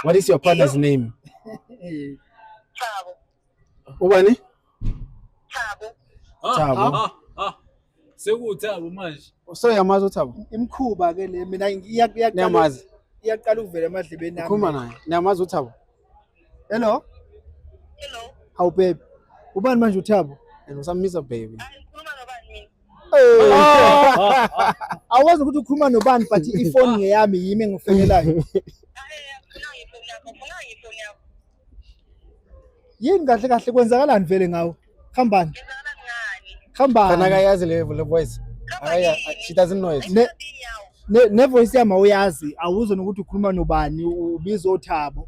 What is your partner's name? Thabo. Ubani? Thabo. Ah, Thabo. Ah, ah. Sekuthabo manje. So yamazi uThabo? Imkhuba ke le mina iyaqala. Niyamazi. Iyaqala ukuvela emadlebeni nami. Khuluma naye. Niyamazi uThabo? Hello. Hello. How babe? Ubani manje uThabo? And usamisa baby. Hayi. Awazi ukuthi ukhuluma nobani but ifoni ngeyami yimi engifonelayo. Yini kahle kahle kwenzakalani vele ngawo? Khambani. Khambani. Kana kayazi le le voice. Aya she doesn't know it. Ne, ne, ne voice yami awuyazi awuzona ukuthi ukhuluma nobani ubiza othabo.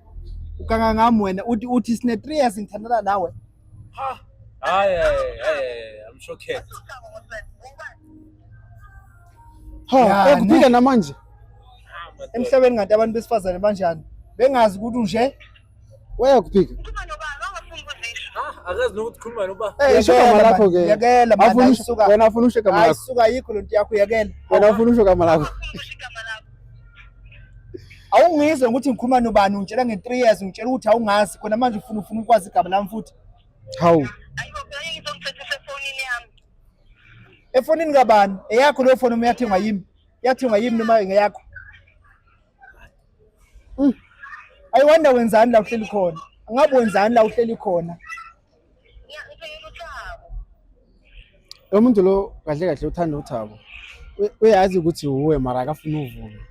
Ukanga ngami wena uthi uthi sine 3 years ngithandana nawe. Ha. Hayi hayi I'm shocked. Ha, ekuphika namanje. Emhlabeni ngathi abantu besifazane banjani? Bengazi ukuthi unje. Weya kuphika. akazi nokuthi khuluma noba ishokama lakho ke yekela manje wena ufuna ushekama lakho ayisuka yikho lento yakho yekela wena ufuna ushokama lakho awungizwe ukuthi ngikhuluma nobani ungitshela nge-3 years ungitshela ukuthi awungazi khona manje ufuna ufuna ukwazi igama lami futhi hawu efonini kabani eyakho leyo foni uma yathengwa yimi yathengwa yimi noma ngeyakho mm. ayiwanda wenzani la uhleli khona angabe wenzani la uhleli khona Lo muntu lo kahle kahle uthanda uThabo. U- Uyazi ukuthi wuwe mara akafuni uvume.